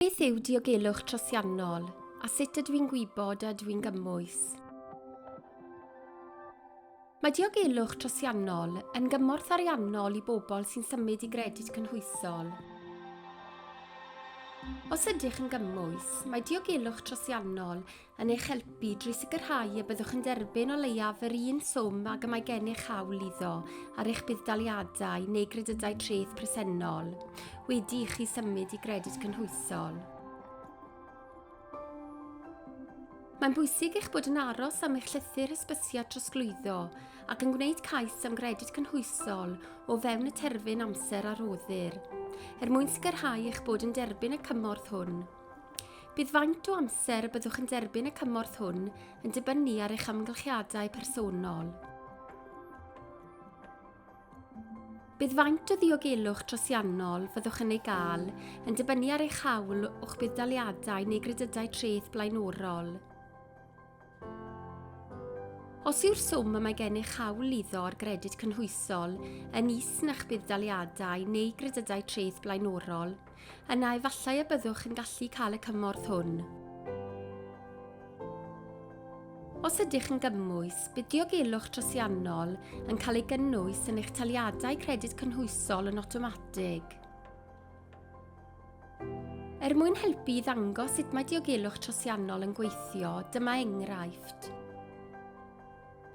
Beth yw diogelwch trosiannol a sut ydw i'n gwybod a ydw i'n gymwys? Mae diogelwch trosiannol yn gymorth ariannol i bobl sy'n symud i gredyd cynhwysol. Os ydych yn gymwys, mae diogelwch trosiannol yn eich helpu drwy sicrhau y byddwch yn derbyn o leiaf yr un swm ag y mae gennych hawl iddo ar eich budd-daliadau neu gredydau treth presennol, wedi i chi symud i gredyd cynhwysol. Mae'n bwysig eich bod yn aros am eich llythyr hysbysiad trosglwyddo ac yn gwneud cais am gredyd cynhwysol o fewn y terfyn amser a roddir, er mwyn sicrhau eich bod yn derbyn y cymorth hwn. Bydd faint o amser y byddwch yn derbyn y cymorth hwn yn dibynnu ar eich amgylchiadau personol. Bydd faint o ddiogelwch trosiannol fyddwch yn ei gael yn dibynnu ar eich hawl o'ch budd-daliadau neu gredydau treth blaenorol. Os yw'r swm y mae gennych hawl iddo ar gredyd cynhwysol yn is na'ch budd-daliadau neu gredydau treth blaenorol, yna efallai y byddwch yn gallu cael y cymorth hwn. Os ydych yn gymwys, bydd diogelwch trosiannol yn cael ei gynnwys yn eich taliadau credyd cynhwysol yn awtomatig. Er mwyn helpu i ddangos sut mae diogelwch trosiannol yn gweithio, dyma enghraifft.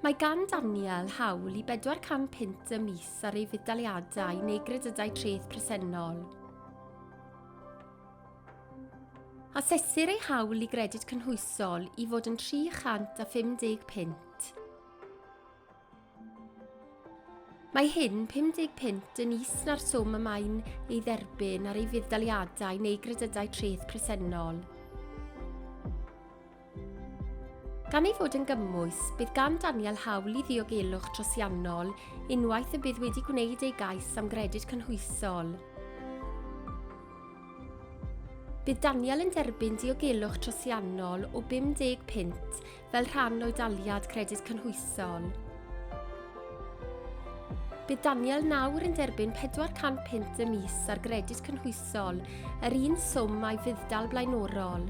Mae gan Daniel hawl i 400 punt y mis ar ei fuddaliadau neu gredydau treth presennol. Asesir ei hawl i gredyd cynhwysol i fod yn 350 punt. Mae hyn 50 punt yn is na'r swm y mae'n ei dderbyn ar ei fudd-daliadau neu gredydau treth presennol. Gan ei fod yn gymwys, bydd gan Daniel hawl i ddiogelwch trosiannol unwaith y bydd wedi gwneud ei gais am gredyd cynhwysol. Bydd Daniel yn derbyn diogelwch trosiannol o 50 punt fel rhan o'i daliad Credyd Cynhwysol. Bydd Daniel nawr yn derbyn 400 punt y mis ar Gredyd Cynhwysol, yr un swm a'i fudd-dal blaenorol.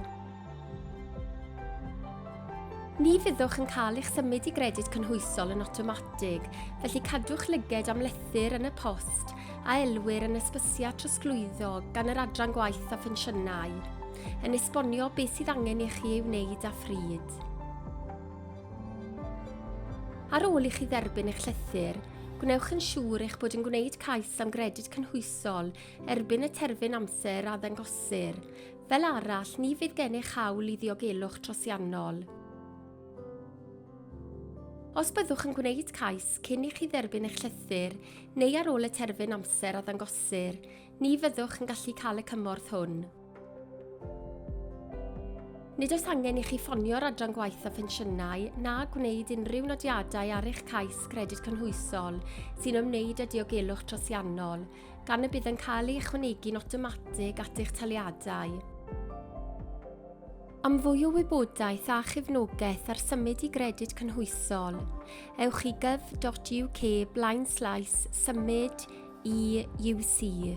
Ni fyddwch yn cael eich symud i gredyd cynhwysol yn awtomatig, felly cadwch lyged am lethr yn y post a elwir yn ysbysiad trosglwyddo gan yr Adran Gwaith a Phensiynau. yn esbonio beth sydd angen i chi ei wneud a phryd. Ar ôl i chi dderbyn eich llythyr, gwnewch yn siŵr eich bod yn gwneud cais am gredyd cynhwysol erbyn y terfyn amser a ddangosir. Fel arall, ni fydd gennych hawl i ddiogelwch trosiannol. Os byddwch yn gwneud cais cyn i chi dderbyn eich llythyr neu ar ôl y terfyn amser a ddangosir, ni fyddwch yn gallu cael y cymorth hwn. Nid oes angen i chi ffonio'r Adran Gwaith a Phensiynau na gwneud unrhyw nodiadau ar eich cais Credyd Cynhwysol sy'n ymwneud â diogelwch trosiannol, gan y bydd yn cael ei ychwanegu'n awtomatig at eich taliadau. Am fwy o wybodaeth a chefnogaeth ar symud i gredyd cynhwysol, ewch i gov.uk blaenslaes symud i UC.